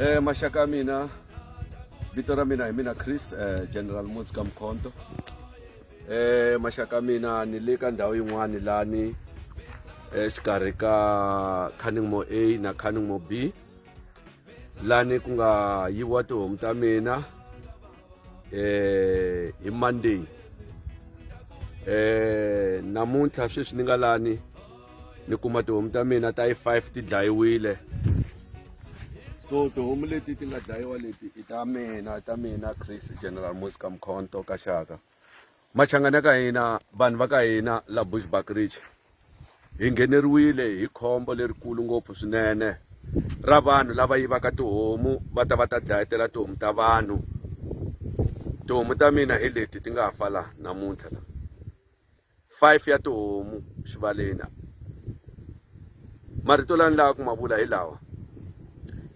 Eh, maxaka ya mina vito ra mina hi mina Chris eh, General Muzi ka Mkhonto eh maxaka ya mina ni le ka ndhawu yin'wani lani exikarhi ka Canningmore A na Canningmore B lani ku nga yiviwa tihomu ta mina eh hi Monday eh namuntlha sweswi ni nga lani ni kuma tihomu ta mina ta yi 5 ti dlayiwile so tihomu leti ti nga dlayiwa leti i ta mina ta mina Chris General Mosika Mkhonto ka Shaka machangani ya ka hina vanhu va ka hina la bushbuckridge hi ngheneriwile hi khombo lerikulu ngopfu swinene ra vanhu lava yivaka tihomu va ta va ta dlayetela tihomu ta vanhu tihomu ta mina hi leti ti nga ha fa laha namuntlha la five ya tihomu xivaleni Marito lani lava ku ma vula hi lawa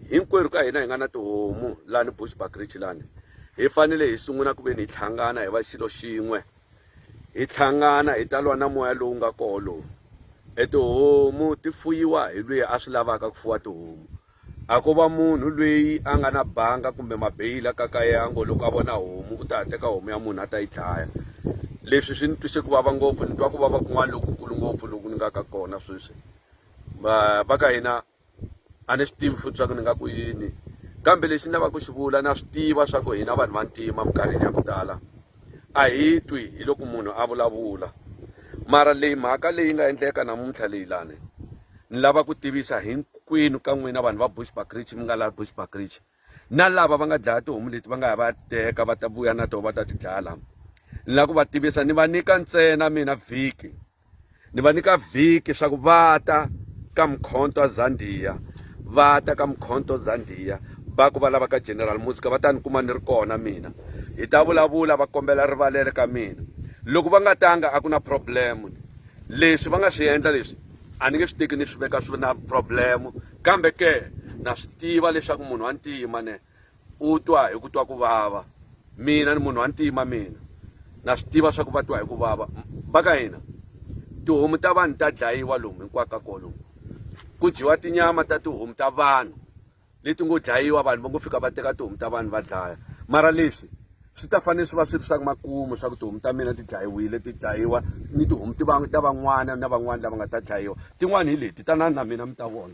hinkwerhu ka hina hi nga na tihomu lani bushback rich lani hi fanele hi sungula ku ve ni hi tlhangana hi va xilo xin'we hi tlhangana hi ta lwa na moya lowu nga koho lowu e tihomu ti fuyiwa hi lweyi a swi lavaka ku fuwa tihomu A ko va munhu lweyi a nga na banga kumbe mabeyili a kakaye a ngo loko a vona homu u ta ya teka homu ya munhu a ta yi dlaya leswi swi ni twise ku vava ngopfu ni twa ku vava kun'wana lokukulu ngopfu loku ni nga ka kona sweswi va ka hina a ni swi tivi futhi swa ku ni nga ku yini kambe lexi ni lavaka ku xi vula na swi tiva swa ku hina vanhu vantima minkarhini ya ku tala a hi twi hi loko munhu a vulavula mara leyi mhaka leyi nga endleka namuntlha leyi lani ni lava ku tivisa hinkwenu ka n'wina vanhu va bushbackridge mi nga laha bushbackridge na lava va nga dlaya tihomu leti va nga ya va ya titeka va ta vuya na toho va ta ti dlaya lama ni lava ku va tivisa ni va nyika ntsena mina vhiki ni va nyika vhiki swa ku va ta ka mkhonto zandiya va ta ka mkhonto zandiya va ku va lava ka general musica va ta ni kuma ni ri kona mina hi ta vulavula va kombela rivalele ka mina loko va nga tanga a ku na problem leswi va nga swi endla leswi a ni nge swi teki ni swi veka swi na problem kambe ke na swi tiva leswaku munhu wa ntima ne u twa hi ku twa ku vava mina ni munhu wa ntima mina na swi tiva swa ku va twa hi ku vava va ka hina tihomu ta vanhu ta dlayiwa lomu hinkwaka kolomu ku dyiwa tinyama ta tihomu ta vanhu leti ngo dlayiwa vanhu va ngo fika va teka tihomu ta vanhu va dlaya mara leswi swi ta fanele swi va swi ri swa makumu swa ku tihomu ta mina ti dlayiwile ti dlayiwa ni tihomu ti va ta van'wana na van'wana lava nga ta dlayiwa tin'wana hi leti tanani na mina mi ta vona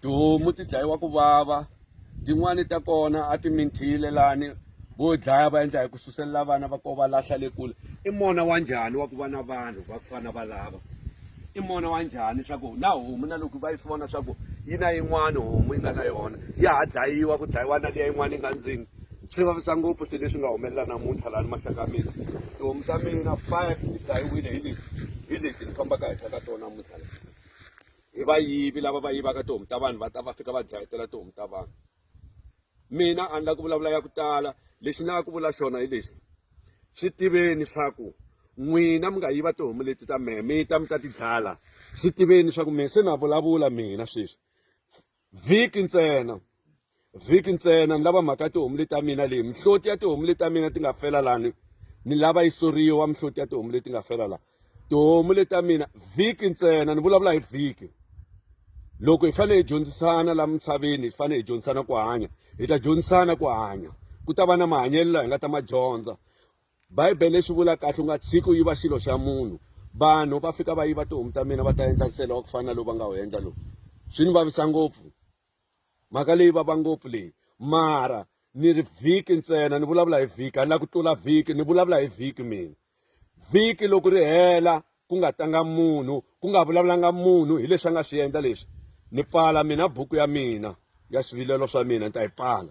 tihomu ti dlayiwa ku vava tin'wani ta kona a ti minthile lani vo dlaya va endla hi ku suselela vana va ko va lahla le kule i mona wa njhani wa ku va na vanhu va ku fana va lava i mona wa njhani swa ku na homu na loko va yi swi vona swa ku yi na yin'wani homu yi nga na yona ya ha dlayiwa ku dlayiwa na liya yin'wana yi nga ndzeni Swi vavisa ngopfu swilo leswi nga humelela namuntlha laha ni maxaka ya mina tihomu ta mina five ti dlayiwile hi leti hi leti ni fambaka henhla ka tona namuntlha la hi vayivi lava va yivaka tihomu ta vanhu va ta va fika va dlayetela tihomu ta vanhu mina a ni la ku vulavula ya ku tala lexi ni lava ku vula xona hi lexi swi tiveni swa ku n'wina mi nga yiva tihomu leti ta mehe mi ta mi ta ti dlala swi tiveni swa ku mina se na vulavula mina sweswi vhiki ntsena vhiki ntsena ni lava mhaka tihomu leti ta mina leyi mihloti ya tihomu leti ta mina ti nga fela lani ni lava yi soriwa mihloti ya tihomu leti nga fela la tihomu leti ta mina vhiki ntsena ni vulavula hi vhiki loko hi fanele hi dyondzisana la misaveni hi fanele hi dyondzisana ku hanya hi ta dyondzisana ku hanya ku ta va na mahanyelo laha hi nga ta ma dyondza Bibele swi vula kahle u nga tshiki u yiva xilo xa munhu vanhu va fika va yiva tihomu ta mina va ta endla nsele wa ku fana na lowu va nga wu endla lowu swi ni vavisa ngopfu mhaka leyi vava ngopfu leyi mara ni ri vhiki ntsena ni vulavula hi vhiki a ni la ku tlula vhiki ni vulavula hi vhiki mina vhiki loko ri hela ku nga tanga munhu ku nga vulavulanga munhu hi leswi a nga swi endla leswi ni pfala mina buku ya mina ya swivilelo swa mina ni ta yi pfala